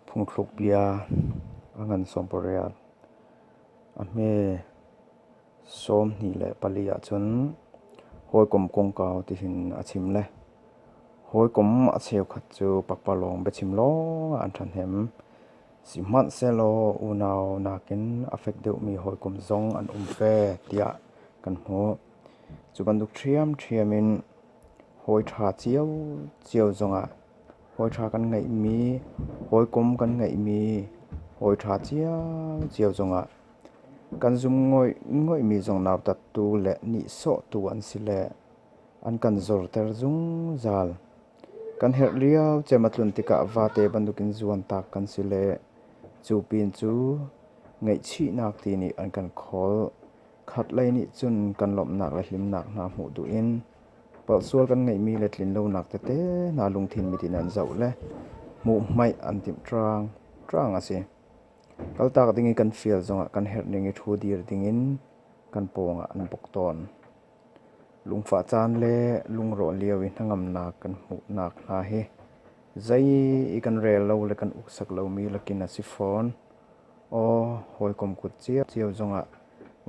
Phungthluk bia a ngan sawmpariat. A hme sawmhnih le pali ahcun hawikom kongkau tihin a chim le hawikom a cheukhat cu pakpalawng biachim lawng ah an ṭhahnem. Sihmanhsehlaw unau nakin a fek deuhmi hawikom zong an um ve tiah kan hmuh. Cu bantuk ṭhiamṭhiam in hawi ṭha ciocio zongah Hawiṭha kan ngeihmi, hawikom kan ngeihmi, hawiṭha ciaocio zongah kan zum ngaingaimi zong nautattu le nihsawhtu an si le an kan zorter zungzal. Kan herh lio cem a tlun tikah vate bantukin zuantak kan si le cu pin cu ngaihchihnak ti nih an kan khawl. Khatlei nih cun kan lawmhnak le hlimnak hna hmuh duh in palhsual kan ngeihmi le tlinlonak tete hna lungthin mit in an zoh le hmuhhmaih an timh ṭaang ṭaang a si. Kaltak ding i kan fial zongah kan herh ning i ṭhu dir dingin kan pawngah an buk tawn. Lungfah caan le lungrawh lio i hnangamnak kan hmuhnak hna hi zei i kan rel lo le kan uksak lomi lakin a si fawn. Aw hawikom kut cio cio zongah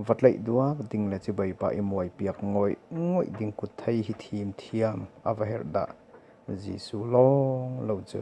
va tlaih duak ding le cibai pa i muaipiak ngawih ngawih ding kut thei hi thim thiam a va herh dah Jesuh lawng lo cu.